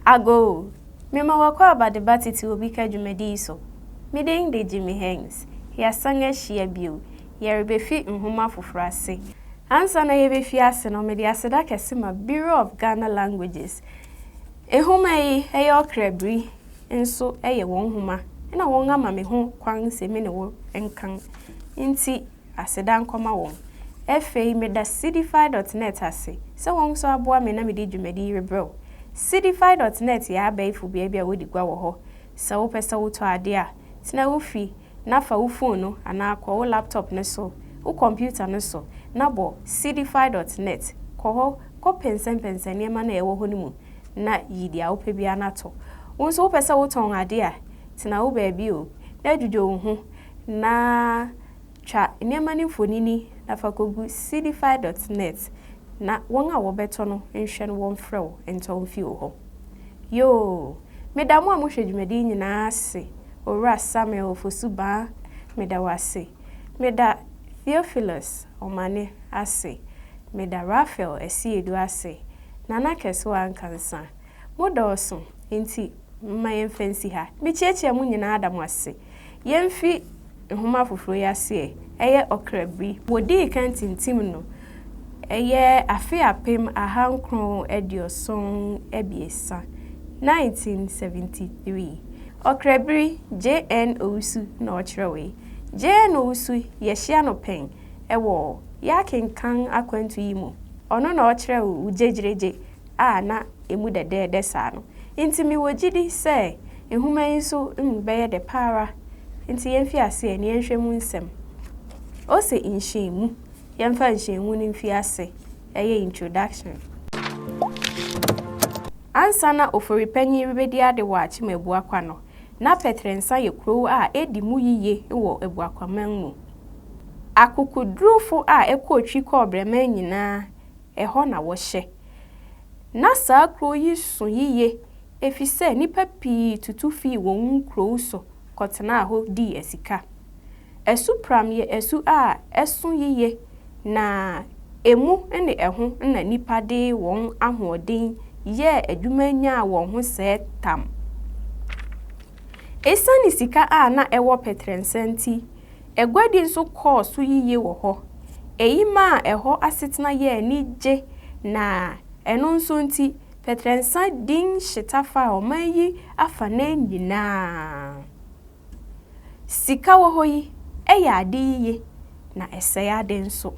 Agoo! Mema w'akwaaba de ba tete obi ka dwumadi yi so. Me din de Jimmy Hengz. Yɛasan ahyia bio. Yɛrebefi nhoma foforo ase. Ansa na yebefi ase no, mede aseda kɛse ma Bureau of Ghana Languages. Nhoma yi, ɛyɛ ɔkra biri, nso ɛyɛ wɔn nhoma, ɛna wɔama me ho kwan sɛ me ne wo nkan. Enti. Aseda nkɔma wɔn. Ɛfei meda Seedify dɔt nɛt ase sɛ wɔn nso aboa me na mede dwumadi yi rebrɛ wo. Seedify dɔt nɛt yɛ abɛɛfo bea bi a wodi gua wɔ hɔ. Sɛ wopɛ sɛ wotɔ ade a, tena wo fi na fa wo fon no anaa kɔ wo laptop no so, wo kɔmputa no so na bɔ Seedify dɔt nɛt. Kɔ hɔ kɔpɛnsɛmpɛnsɛn nneɛma no a ɛwɔ hɔ no mu na yi deɛ wopɛ biara na tɔ. Wo nso wopɛ sɛ wotɔn ade a, tena wo baabi o na dwudwo wo ho Na twa nneɛma no mfonini na fa kɔgu Seedify dot net na wɔn a wɔbɛtɔ no nhwɛ no wɔmfrɛ wo ntɔ mfi wo hɔ. Yoo! Meda mo a mohwɛ dwumadi yi nyinaa ase, Owura Samuel Ofosu-Baa, meda wo ase. Meda Theophilus Omane ase. Meda Raphael Asiedu ase. Nana Kɛsewa Ankansa, Modɔɔso, enti momma yɛmfa nsi ha. Mikyiakyia mo nyinaa da mo ase. Yemfi nhoma foforo yi ase ɛ. Ɛyɛ ɔkra biri. Wodii kan tintim no, ɛyɛ afe apem ahankron aduoson abiɛsa, 1973. Ɔkra biri, JN. Owusu na ɔkyerɛwee. JN. Owusu, yɛahyia no pɛn wɔ yɛakenkan akwantu yi mu. Ɔno na ɔkyerɛw Wo Gyegyeregye a na emu dɛdɛɛdɛ saa no. Enti mewɔ gyidi sɛ nhoma yi nso mu bɛyɛ dɛ pa ara. Enti yɛmfi aseɛ na yɛnhwɛ mu nsɛm. Ose nhyɛnmu. Yɛmfa nhyɛnmu no mfi ase. Ɛyɛ introduction. Ansa na Ofori Panyin rebɛdi ade wɔ Akyem Abuakwa no, na Pɛtrɛnsa yɛ kurow a edi mu yiye wɔ Abuakwaman mu. Akokodurufo a ɛkɔɔ Twi kɔɔ Brɛman nyinaa Ɛhɔ na wɔhyɛ. Ná saa kurow yi sõ yiye efisɛ nnipa pii tutu fii wɔn nkurow so kɔtenaa hɔ dii asika. Asu Pram yɛ asu a ɛsõ yiye na emu ne ɛho na nnipa de wɔn ahoɔden yɛɛ adwuma nyaa wɔn ho sɛɛ tam. Esiane sika a na ɛwɔ Petrensɛ nti, Aguadi nso kɔɔ so yiye wɔ hɔ. Eyi maa ɛhɔ asetena yɛɛ anigye na ɛno nso nti, Petrɛnsa din hyeta faa ɔman yi afanan nyinaa. Sika wɔ hɔ yi, ɛyɛ ade yiye, na ɛsɛe ade nso.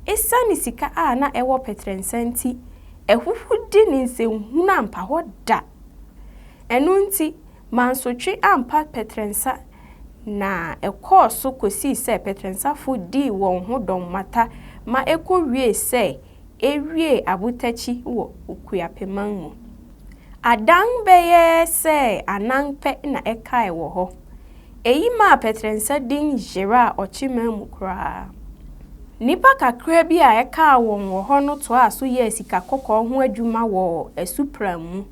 Esiane sika a na ɛwɔ Petrɛnsa nti, ahuhudi ne nsɛnhunu ampa hɔ da. Ɛno nti, Mansotwe ampa Pɛtrɛnsa na ɛkɔɔ so kɔsii sɛ Pɛtrɛnsafo dii wɔn ho dɔm mata ma ɛkɔwiee sɛ ɛwiee abotakyi wɔ Okuapeman mu. Adan bɛyɛ sɛ anan pɛ na ɛkae wɔ hɔ. Ɛyi maa Pɛtrɛnsa din yeraa Ɔkyeman mu koraa. Nnipa kakra bi a ɛkaa wɔn wɔ hɔ no toaa so yɛɛ sika kɔkɔɔ ho adwuma wɔ Asupram mu.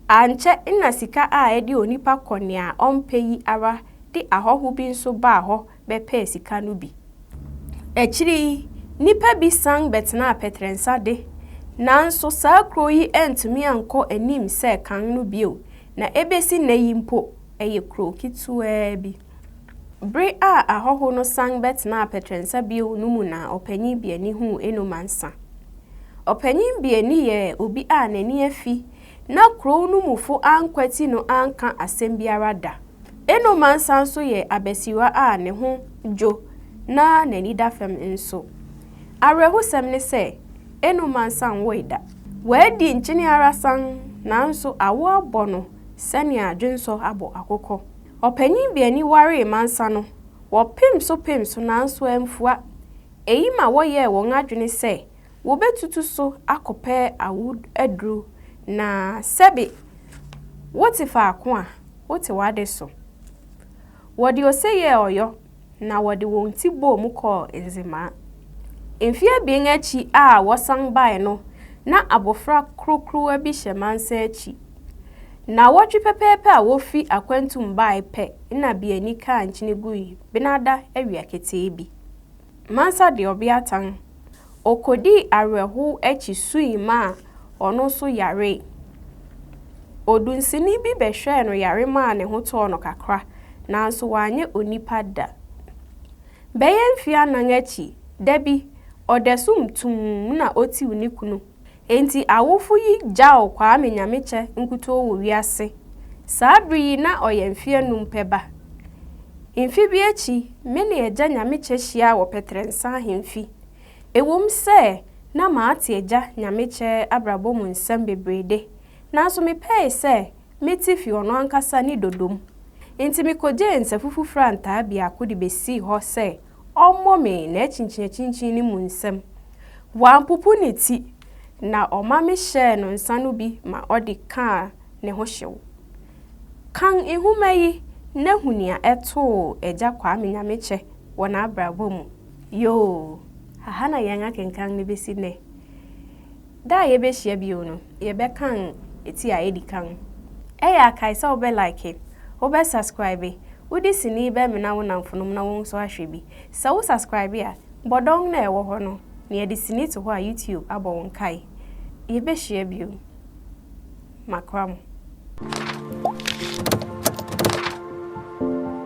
Ankyɛ na sika a ɛde onipa kɔ nea ɔmpɛ yi ara de ahɔho bi nso baa hɔ bɛpɛɛ sika no bi. Akyiri yi, nnipa bi san bɛtenaa Pɛtrɛnsa de, nanso saa kurow yi antumi ankɔ anim sɛ kan no bio, na ebesi nnɛ yi mpo, ɛyɛ kurow ketewaa bi. Bere a ahɔho no san bɛtenaa Pɛtrɛnsa bio no mu na Ɔpanyin Biani huu Eno Mansa. Ɔpanyin Biani yɛ obi a n'ani afi na kurow no mufo ankwati no anka asɛm biara da. Eno Mansa nso yɛ abasiriwa a ne ho dwo na n'ani da fam nso. Awerɛhosɛm ne sɛ, Eno Mansa nwoe da. Wadi nkyene ara sann, nanso awo abɔ no sɛnea dwensɔ abɔ akokɔ. Ɔpanyin bi ani waree mmansa no, wɔpem so pem so nanso amfua. Eyi ma wɔyɛɛ wɔn adwene sɛ wobetutu so akɔpɛ awo aduru, na sɛbe wote faako a, wote w'ade so. Wɔde ose yɛɛ ɔyɔ. na wɔde wɔn ti bɔɔ mu kɔɔ Nzemaa. Mfe abien akyi a wɔsan bae no, na abofra krokrowa bi hyɛ mansa akyi. Nnawɔtwe pɛpɛɛpɛ a wofi akwantu mu bae pɛ na Biani kaa nkyene gui, benada awia ketee bi. Mansa de ɔbeatan Okodii awerɛhow akyi sui maa ɔno nso yaree. Odunsini bi bɛhwɛɛ no yare maa ne ho tɔɔ no kakra, nanso wanyɛ onipa da. Bɛyɛ mfe anan akyi, da bi, ɔdasum tumm na otiw ne kunu Enti awofo yi gyaw Kwame Nyamekyɛ nkutoo wɔ wiase. Saa bere yi na ɔyɛ mfe anum pɛ ba. Mfe bi akyi, me ne Agya Nyamekyɛ hyiaa wɔ Pɛtrɛnsa Ahemfi. Ɛwom sɛ na mate Agya Nyamekyɛ abrabɔ mu nsɛm bebree de, nanso mepɛe sɛ mete fi ɔno ankasa ne dodom. Enti mikogyee nsafufufrantaa biako de besii hɔ sɛ Ɔmmɔ me n'akyinkyinakyinkyin no mu nsam. Wampopo ne ti, na ɔma mehyɛɛ no nsa no bi ma ɔde kaa ne ho hyew. Kan nhoma yi na hu nea ɛtoo Agya Kwame Nyamekyɛ wɔ n'abrabɔ mu. Yoo, ha na yɛn akenkan no besi nnɛ. Da a yɛbɛhyia bio no, yɛbɛkan ti a ɛdi kan. Ɛyɛ a kae sɛ wobɛ like, wobɛ subscribe, wode sini bɛmena wo nnamfonom na wɔn nso ahwɛ bi. Sɛ wo subscribe a, bɔ dɔn no a ɛwɔ hɔ no na yɛde sini to hɔ a YouTube abɔ wo nkae. Yɛbɛhyia bio. Makora mo.